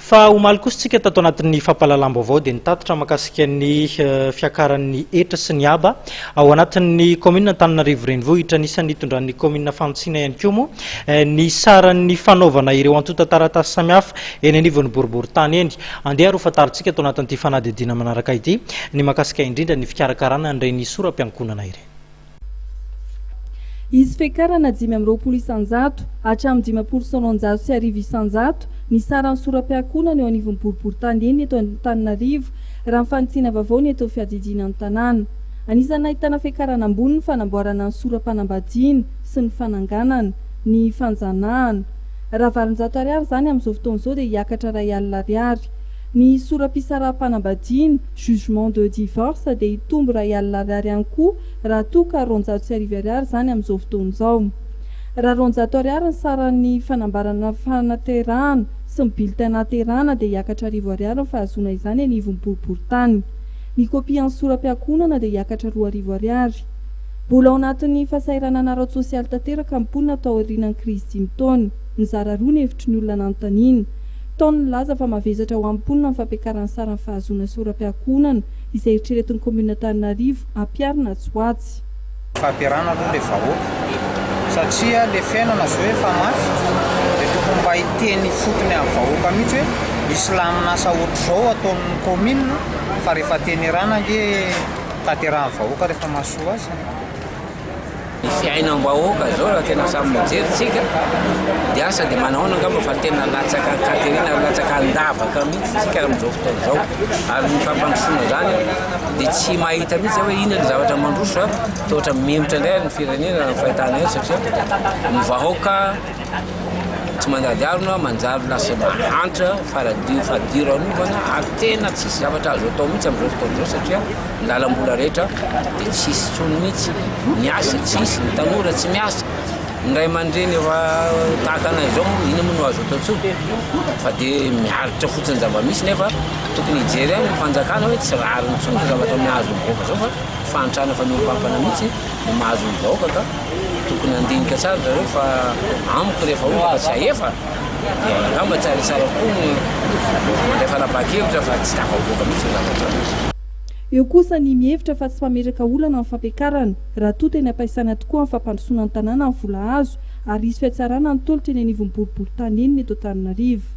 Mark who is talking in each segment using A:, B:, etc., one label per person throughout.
A: Fa omaly kosa tsika tato anatin'ny fampahalalam-baovao dia nitatitra makasika ny fiakaran'ny hetra sy ny haba ao anatin'ny kaominina Antananarivo Renivohitra. Anisan'ny nitondran'ny kaominina Fantsina ihany koa moa ny saran'ny fanaovana ireo antontan-taratasy samihafa eny anivon'ny boriborintany eny. Andeha ary hofantarintsika ato anatin'ity fanadihadiana manaraka ity ny makasika indrindra ny fikarakarana an'ireny sora-piankonana ireny.
B: Hisy fiakarana dimy amby roapolo isanjato hatramin'ny dimampolo sy roanjato sy arivo isanjato ny saran'ny sorapiakonana eo anivon'ny boriborintany enina eto Antananarivo, raha ny fanitsiana vaovao ny eto fiadidiana ny tanàna. Anisan'ny nahitana fiakarana ambony ny fanamboarana ny sora-panambadiana sy ny fananganana, ny fanjanahana. Raha valonjato ariary izany amin'izao fotoana izao dia hiakatra iray alina ariary. Ny sora-pisaraham-panambadiana, jugement de divorce, dia hitombo iray alina ariary ihany koa raha toa ka roanjato sy arivo ariary izany amin'izao fotoana izao. Raha roanjato ariary ny saran'ny fanambarana fanaterahana sy ny bulletin nahaterahana dia hiakatra arivo ariary ny fahazoana izany anivon'ny boriborintany. Ny kopian'ny sora-piankohonana dia hiakatra roa arivo ariary. Mbola ao anatin'ny fahasahiranana ara-tsosialy tanteraka ny mponina taorianan'ny krizy dimy taona. Nizara roa ny hevitry ny olona nanontaniana. Tao ny nilaza fa mavesatra ho an'ny mponina ny fampiakaran'ny saran'ny fahazoana sy oram-piankohonana izay eritreretin'ny kominin'Antananarivo hampiharina atsy ho atsy. Fahaterana
C: aloha ilay vahoaka satria ilay fiainana izao efa mafy dia tokony mba hiteny ifotony amin'ny vahoaka mihitsy hoe misy lamin'asa ohatr'izao ataon'ny kominina fa rehefa tenerana ange taterahan'ny vahoaka rehefa mahasoa azy.
D: Ny fiainam-bahoaka izao raha tena samy mijery isika dia asa dia manahoana angamba fa tena latsaka an-katerena ary latsaka an-davaka mihitsy isika amin'izao fotoana izao. Ary ny fampandrosoana izany dia tsy mahita mihitsy aho hoe inona no zavatra mandroso fa toa ohatran'ny mihemotra indray ary ny firenena raha ny fahitana azy satria ny vahoaka Tsy mandady arona aho manjary lasa mahantra, faradio, fadiranovana ary tena tsisy zavatra azo atao mihitsy amin'izao fotoana izao satria ny lalam-bola rehetra dia tsisy intsony mihitsy, ny asa tsisy, ny tanora tsy miasa, ny ray aman-dreny efa tahaka anay izao moa inona moa no azo atao intsony fa dia miaritra fotsiny ny zava-misy nefa tokony hijery ihany ny fanjakana hoe tsy rariny intsony ny zavatra mahazo ny vahoaka izao fa fahantrana faniompampana mihitsy no mahazo ny vahoaka ka. Tokony handinika tsara zareo fa amiko rehefa ohatra ka zahefa dia angamba tsara dia tsara kokoa ny mandray fanapahan-kevitra fa tsy tafavoaka mihitsy ny zava-nitranga. Eo
B: kosa ny mihevitra fa tsy mpametraka olana ny fampiakarana raha toa tena am-paisana tokoa amin'ny fampandrosoana ny tanàna ny vola azo ary hisy fihatsarana ny tolotra eny anivon'ny boriborintany eny ny eto Antananarivo.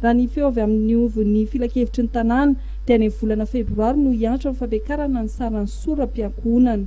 B: Raha ny feo avy amin'ny ovon'ny filankevitry ny tanàna dia any amin'ny volana febroary no hiantra ny fampiakarana ny saran'ny sora-piankohonana.